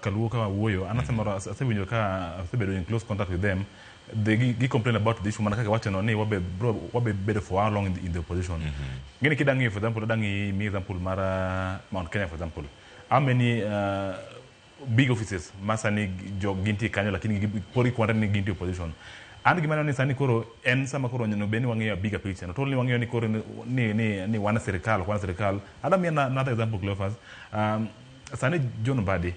Kaluo ka wuoyo an asemoro ase- asewinjo ka asebedo in close contact with them they gi, gi complain about the issue mana kaka iwachono ni wabe bro wabe bedo for how long in the, in the opposition ngeni kida ng'iyo for example ada ng'i mi example mar uh, Mount Kenya for example how many uh, big offices ma sani jo gintie kanyo lakini gi- pod ikwonre ni gintie opposition an gima aneno ni sani koro en sama koro onego bed ni wang'iyo bigger picture not only wang'iyo ni koro ni, ni, ni, ni wan sirikal ok wan sirikal ada mi another example Cleophas um, sani John Mbadi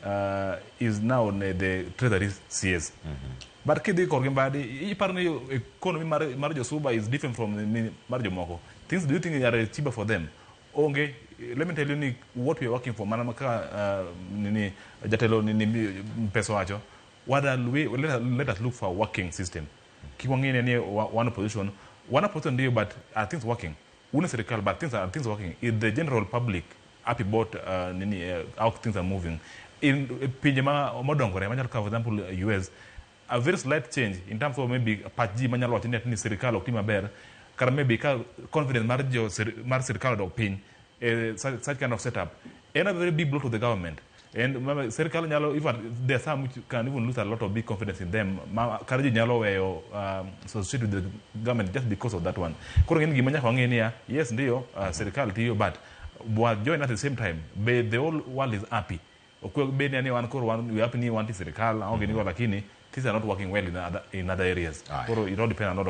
uh, is now ne the treasury CS. Mm -hmm. But kidhi korgi Mbadi, iparo ni economy mar, mar Josuba is different from ni mar jomoko. Things do you think are cheaper for them? Onge, let me tell you ni what we are working for, mana ka uh, nini, jatelo nini pesa wacho, what are we, let, us, let us look for a working system. Kikwangine ni one position, one position ndio but are things working? Wuon sirkal but things are things working if the general public happy about uh, nini uh, how things are moving in pinje ma modongore machalo kaka for example US a very slight change in terms of maybe pach ji manyalo wacho ni ati ni sirkal ok ti maber kata maybe ka confidence mar jo sir- mar sirkal odok piny eh, such, such kind of setup en a very big blow to the government And remember, sirkal nyalo in fact there are some which can even lose a lot of big confidence in them ma kar ji nyalo weyo um, associate with the government just because of that one koro ng'en gima nyaka wang'e niya yes ndiyo uh, sirkal tiyo but wa join at the same time be the whole world is happy okwe be ni ani wan koro wan we happy ni wanti sirkal aonge nigo lakini things are not working well in other, in other areas Aye. koro it all depend a lot of